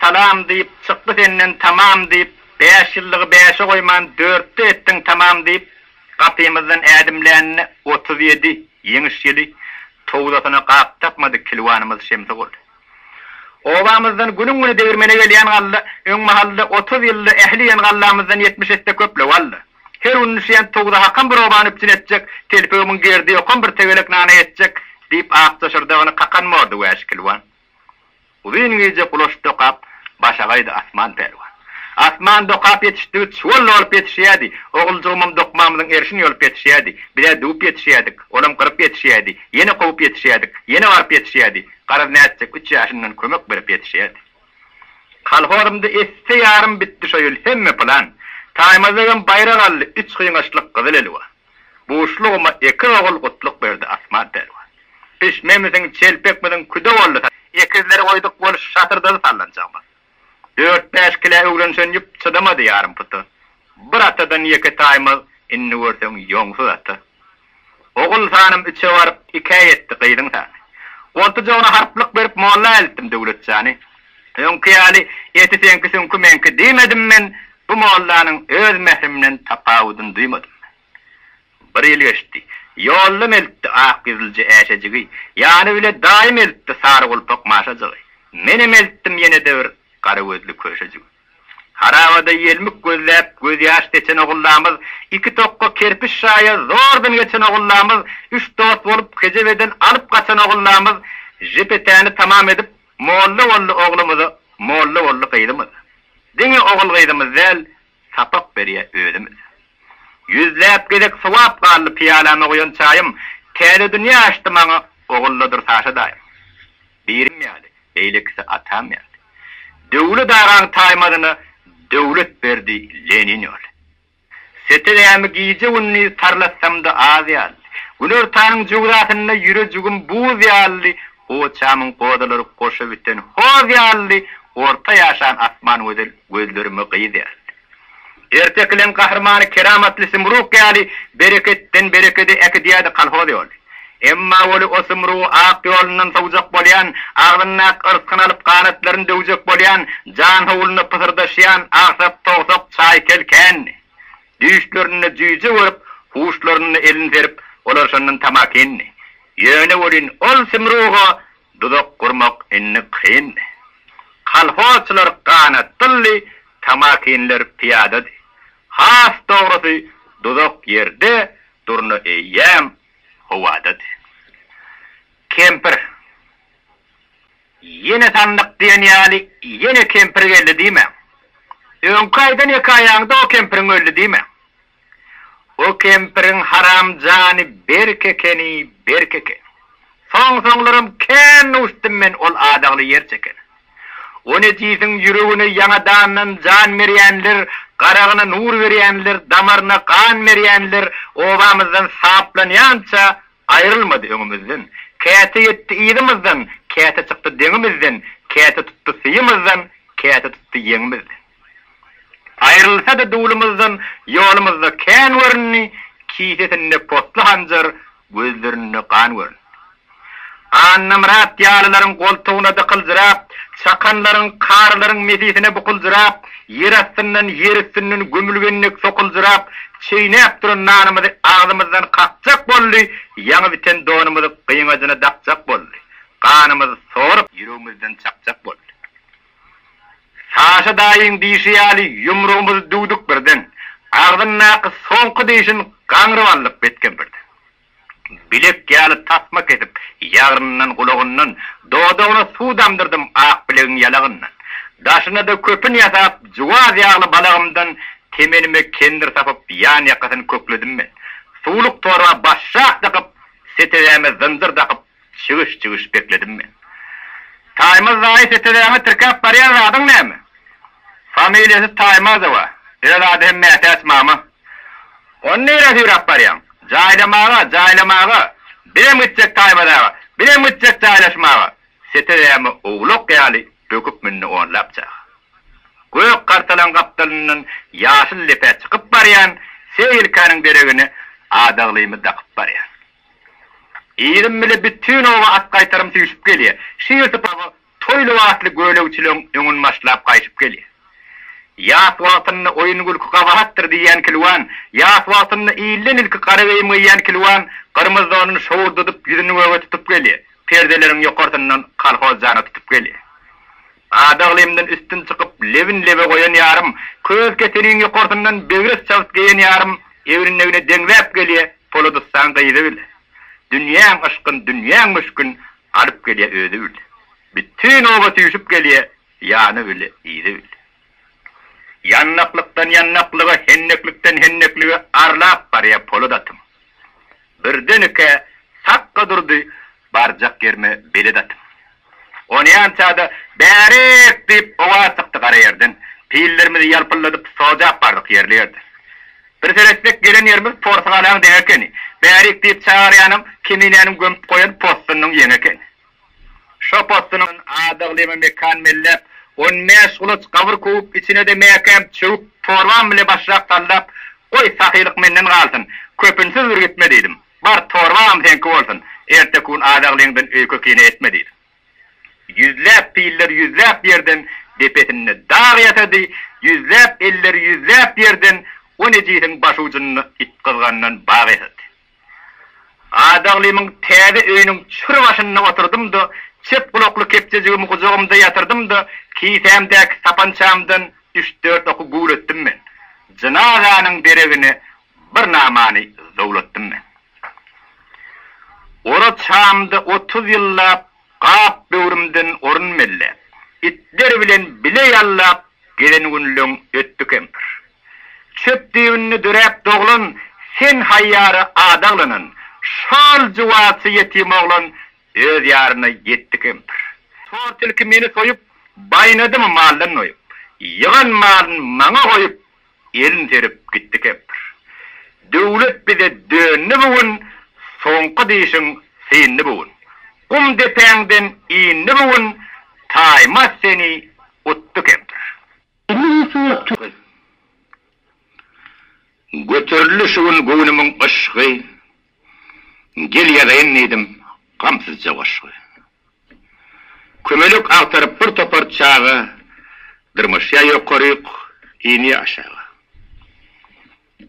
Salam diýip, çykdy senden tamam diýip, Bäş ýyllygy bäşe goýman, dörtde etdiň tamam diýip, Gapymyzdan ädimlänine otuz ýedi Ýeňiş ýyly towzasyna gap tapmady Kilwanymyz Şemsi gol. Obamyzdan günüň-güni degirmene gelýän galla, Öň mahalda otuz ýylda ähli iýen gallamyzdan ýetmiş esse köp la walla. Her gün üşüýän towza hakam bir obany üpjün etjek, telpege müň gerdi ýokan bir tegelek nana ýetjek, diýip, ak daşardagyny kakan mordy wäşi kilwan. Uzyn gije gulaç dokap, başa gaýdy Asman pälwan. Asman dokap ýetişdigi çuwalla bolup ýetişýärdi, oguljygymam dokmamyzyň erşini ýolup ýetişýärdi. Biz-ä düwüp ýetişýärdik, olam gyryp ýetişýärdi, ýene kowup ýetişýärdik, ýene baryp ýetişýärdi. Garaz nätjek, üç ýaşyndan kömek berip ýetişýärdi. Kolhozymda esse ýarym bitdi şo ýyl hemme plan. Taýmazygam baýrak aldy, üç gyňaçlyk gyzyl elwa. Buşlugyma ekiz ogul gutluk berdi Asman pälwan. Pişmemisiň, çelpekmisiň küde boldy saz. Ekizleri goýduk boluş şatyrdazy sallanjagymyz. Dört-bäş kilä öwrenişen ýüp çydamady ýarym puta. Bir atadan ýeke Taýmaz, indi görseň ýoňsuz ata. Ogulhanym üçe baryp, ikä ýetdi gyzyň sany. Goltujagyna harplyk berip molla eltdim Döwletjany. Öňki ýaly eti seňki süňki meňki diýmedim men, bu mollanyň öz mährimden tapawudyny duýmadym. Bir ýyl geçdi. Ýoldam eltdi ak ýüzlüje äşejigi, ýany bile daýym eltdi sary gulpak maşajygy. Menem eltdim ýene-de bir gara gözli köşejigi. Harabada ýelmik gözläp, gözýaş seçen ogullamyz, iki tokga kerpiç şaýa zordan geçen ogullamyz, üç dost bolup kejebeden alyp gaçan ogullamyz, JPT-ni tamam edip, molla boldy oglumyz, molla boldy gyzymyz. Diňe ogul-gyzymyz däl, sapak berýä özümiz. Ýüzläp gezek sowap galdy pyýalama guýan çaýym, täze dünýä açdy maňa Ogullydyr Saşa daýym. Birim ýaly, beýlekisi atam ýaly. Döwlet agaň taýmazyna döwlet berdi Lenin ýaly. Setegämi gije-gündiz tarlatsamda az ýaly. Günortanyň jugzasynda ýürejigim buz ýaly, goçamyň gozalary goşa biten hoz ýaly, orta ýaşan asman gözel gözlerime gyz ýaly. Ertek ilen gahrymany keramatly Symruk ýaly bereketden berekede äkidýärdi kolhoz ýoly. Emma Weli o Symrugy ak ýolundan sowjak bolýan, agzyndaky yrskyny alyp ganatlaryny döwjek bolýan, jan howluna pysyrdaşýan agsat towsak çaýkel kändi. Düýşlerinde jüýje görüp, huşlarynda elin serip, olar şondan tamakin. Ýöne welin ol Symruga Duzak gurmak indi kyndy. Kolhozçylar ganat dyldy, tamakinler pyýadady. Has dogrusy, duzak ýerde, durna eýýäm howadady. Kempir, Ýene sandyk diýen ýaly, ýene kempir geldi diýmäň. Öňki aýdan hekaýaňda o kempiriň öldi diýmäň. O kempiriň haram jany berk ekeni, berk eken. Soň-soňlaram kän ussdym men ol adagly ýer çekene. O nejisiň ýüregine ýaňadandan jan berýänler, garagyna nur berýänler, damaryna gan berýänler obamyzdan saplanýança aýrylmady öňümizden. Käte ýetdi yzymyzdan, käte çykdy deňimizden, käte tutdy syýymyzdan, käte tutdy ýeňimizden. Aýrylsa-da duwlumyzdan ýolumyzda kän göründi, Kisesinde potly hanjar, gözlerinde gan göründi. Annamyrat ýalylaryň goltugyna dykyljyrap, Çakanlaryň, karylaryň mesisine bukuljyrap, Ýer astyndan, ýer üstünden gömülgen dek sokuljyrap, Çeýnäp duran nanymyzy agzymyzdan kakjak boldy, Ýaňy biten donumyzy gyňajyna dakjak boldy, Ganymyzy sorup, ýüregimizden çakjak boldy. Saşa daýyň diýşi ýaly ýumrugymyzy düwdük birden. Agzyndaky soňky dişin gaňryp aldyk betkem birden. Bilek ýaly tasma kesip, ýagryndan, gulagyndan, dodagyna suw damdyrdym ak bilegiň ýalagyndan. Daşyna-da köpün ýasap, juwaz ýagly balagymdan temenime kendir sapyp, ýan-ýakasyny kökledim men. Suwluk torba başjak dykyp, setedäme zynjyr dakyp, Çygyş, çygyş bekledim men. Taýmaz daýy setezaňa tirkäp barýan zadyň näme? Familiýasy Taýmazowa, öz ady hem Mätäç mama. Ony nirä süýräp barýaň? Jaýlamaga, jaýlamaga! Birem gitjek Taýmaz aga, birem gitjek jaýlaşmaga! Setezämi owlak ýaly böküp mündi onlap çaga. Gök gartalyň gapdalyndan ýaşyl lepä çykyp barýan Seýilkäniň deregine adaglymy dakyp barýan. Yzym bile bütin oba at-gaýtarym süýşüp gelýär. Şu ýersi paba toý lybasly gölegçileň öňün başlap gaýşyp gelýär. Ýas wagtynda oýun-gülki gabahatdyr diýýän kilwan, ýas wagtynda ilden ilki gara geýim geýýän kilwan gyrmyz donuny şowurdadyp ýüzüni göge tutup gelýär, perdeleriň ýokarsyndan kolhoz jana tutup gelýär. Adaglymdan üstün çykyp lebin lebe goýan ýarym, köz keteniň ýokarsyndan begres çabyt geýen ýarym egrindegine deňzäp gelýär, Polodystan gyzy bil, Dünýäň yşkyn, dünýäň müşkin, Alyp gelýä özi bil. Bütin oba süýşüp gelýä, Ýany bil, yzy bil. Ýandaklykdan ýandaklyga, Hendeklikden hendeklige Arlap barýa polad atym. Birden-eke sakga durdy, Barjak ýerime belet atyp. Onýança-da, Bärik! diýip, owaz çykdy gara ýerden. Pillerimizi ýalpylladyp, sojap bardyk ýerli ýerde. Bir seretsek, gelen ýerimiz porsygalaň deňi ekeni. Bärik! diýip çagyrýanam, Keminäniň gömüp goýan possunynyň ýeňi ekeni. Şo possunyň adaglymy mekan belläp, on bäş gulaç gabyr kowup, içine-de mäkäm çöwüp, torban bile başrak sallap, Goý, sahylyk menden galsyn, köpünsiz bir gitme diýdim. Bar, torbam seňki bolsun, erteki gün azaglygyndan öýke kine etme diýdi. Ýüzläp piller ýüzläp ýerden depesinde dag ýasady, ýüzläp elleri ýüzläp ýerden on ejizin başujynda it gyzgandan bag ýasady. Azaglymyň täze öýüniň çür başynda oturdym-da, çep gulakly kepjejigimi gujagymda ýatyrdym-da, kisämdäki sapançamdan üç-dört oky güwretdim men. Jynazanyň deregine Bir namany zowlatdym men. Oraz çamda otuz ýyllap Gap böwrümden orun melläp, Itler bilen bile ýallap Gezen günleň ötdi kempir. Çöp düýbünde döräp doglan Sen haýýara adaglanan, Şol juwazy ýetim oglan Öz ýaryna ýetdi kempir. Tort ilki meni soýup, Baýnadymy maldan doýup, Ýygan malyn maňa goýup, Elin serip gitdi kempir. Döwlet bize döndi bu gün, Soňky dişiň syndy bu gün. Gum depäňden indi bu gün, Taýmaz seni utdy kempir. Elli ýyl soňrak tökül. Göterildi şu gün göwnümiň yşgy, Gel ýazaýyn diýdim gamsyzja goşgy. Kömelek agtaryp bir topar çaga Dyrmaşýar ýokaryk, inýär aşaga.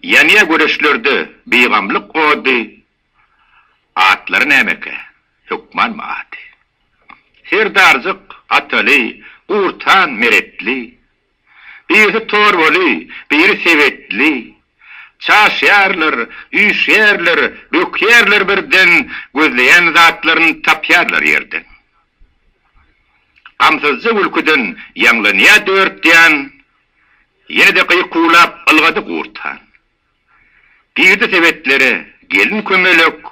Ýanýar göreçlerde bigamlyk ody, Atlary nämekä, hökmanmy ady? Serdarjyk, Ataly, Gurtan, Meretli, Birisi torbaly, biri sebetli. Çaşýarlar, üýşýärler, bökýärler birden, gözleýän zatlaryny tapýarlar ýerden. Gamsyzja gülküden ýaňlanýar dört ýan, ýene-de gykuwlap ylgady gurt han. Girdi sebetlere gelin-kömelek,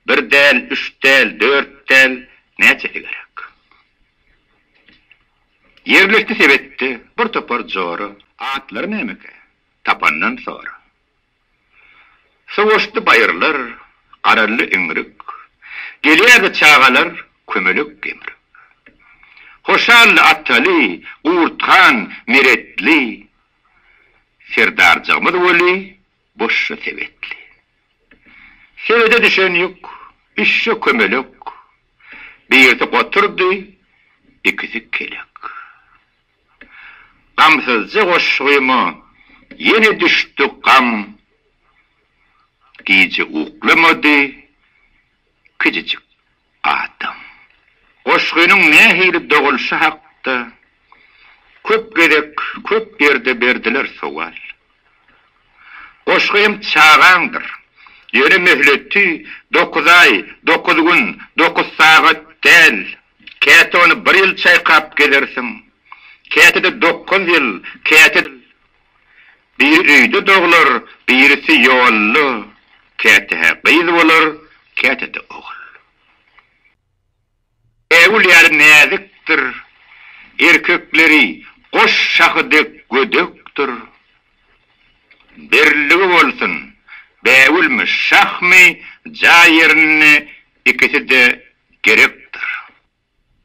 bir däl, üç däl, dört däl, näçesi gerek. Ýerlikli sebetde bir topar jora. Atlary nämekä, tapandan sora. Sowaşdy baýyrlar, garaldy iňrik. Gelýärdi çagalar kömelek gemrik. Hoşally Ataly, Gurthan, Meretli. Serdarjygymyz weli Boşja sebetli. Sebede düşen ýük, üç-şe kömelek, birisi goturdy, ikisi kelek. Gamsyzja goşgyma ýene düşdi gam, gije uklamady, kijijik Adam. Goşgynyň nähili dogulyşy hakda köp gezek köp ýerde berdiler sowal. Goşgy hem çagaňdyr. Ýöne möhleti dokuz aý, dokuz gün, dokuz sagat däl. Käte ony bir ýyl çaýkap gezersiň, käte-de dokuz ýyl, käte-de. Biri öýde doglar, birisi ýolda, käte-hä gyz bolar, käte-de ogul. Bägül ýaly näzikdir, erkekleri goş şahy dek gödekdir. Birligi bolsun, bägülmi, şahmy, jaý ýerinde ikisi-de gerekdir.